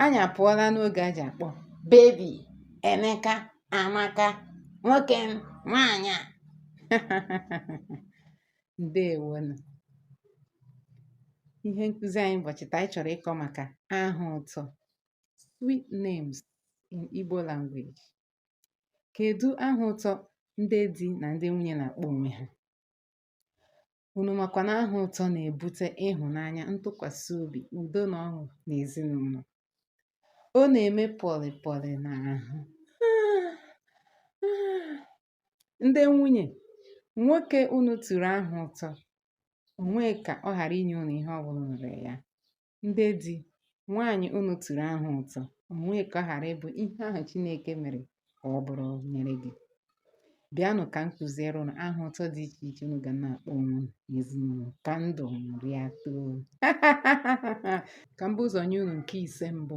anyị apụọla n'oge a ji akpọ bebi emeka amaka nwoke m nwaanyị a ndewonu ihe nkụzi anyị ụbọchị taa anyị chọrọ ịkọ maka aha ụtọ sweet names in Igbo language kedu aha ụtọ ndị di na ndị nwunye na-akpọ onwe ha Unu makwa na aha ụtọ na-ebute ịhụnanya, ntụkwasị obi, udo na ọṅụ n'ezinụlọ. Ọ na-eme pọlị pọlị n'ahụ. Ndị nwunye, nwoke unu turu aha ụtọ, o nwee ka ọ ghara inye unu ihe ọ bụla nwere ya. Ndị di, nwaanyị unu turu aha ụtọ, o nwee ka ọ ghara ịbụ ihe ahụ Chineke mere ka ọ bụrụ nyere gị. Bịanụ ka m kụziere unu aha ụtọ dị iche iche unu ga na-akpọ onwe unu n'ezinụlọ ka ndụ ṅụrịa too. Ka m bu ụzọ nye unu nke ise mbụ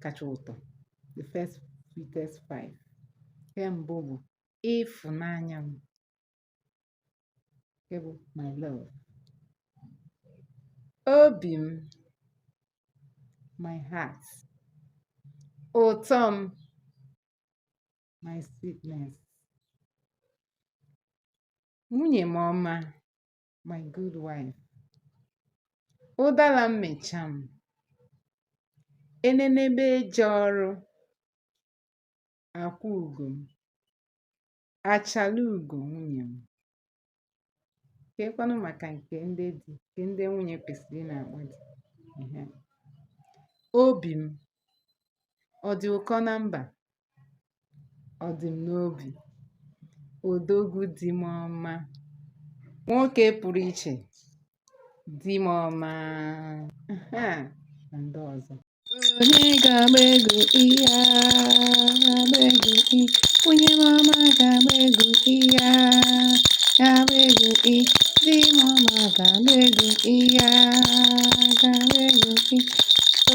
kacha ụtọ, the first sweetest five. Nke mbụ bụ ịfụnanya m. nke bụ my love obi m my heart ụtọ m my sweetness nwunye m ọma my good wife ụdara mmịcha m enenebe eje ọrụ akwụ ugo m Achala ugo nwunye m. Keekwanụ maka nke ndị di, nke ndị nwunye kwesịrị ị na-akpọ di. Ehe. Obi m, ọ dị ụkọ na mba? Ọ dị m n'obi. Odogwu di m ọma. Nwoke pụrụ iche, di m ọma. Ehe, na ndị ọzọ. Onye ga-agba egwu iya, ga-agba egwu i. Nwunye m ọma ga-agba egwu iya, ga-agba egwu i. Di m ọma ga-agba egwu iya, ga-agba egwu i.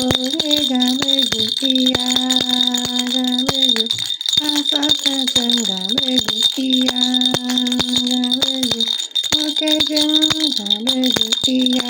Onye ga-agba egwu iya, ga-agba egwu. Asampete m ga-agba egwu iya, ga-agba egwu. Nwoke ji mma ga-agba egwu iya.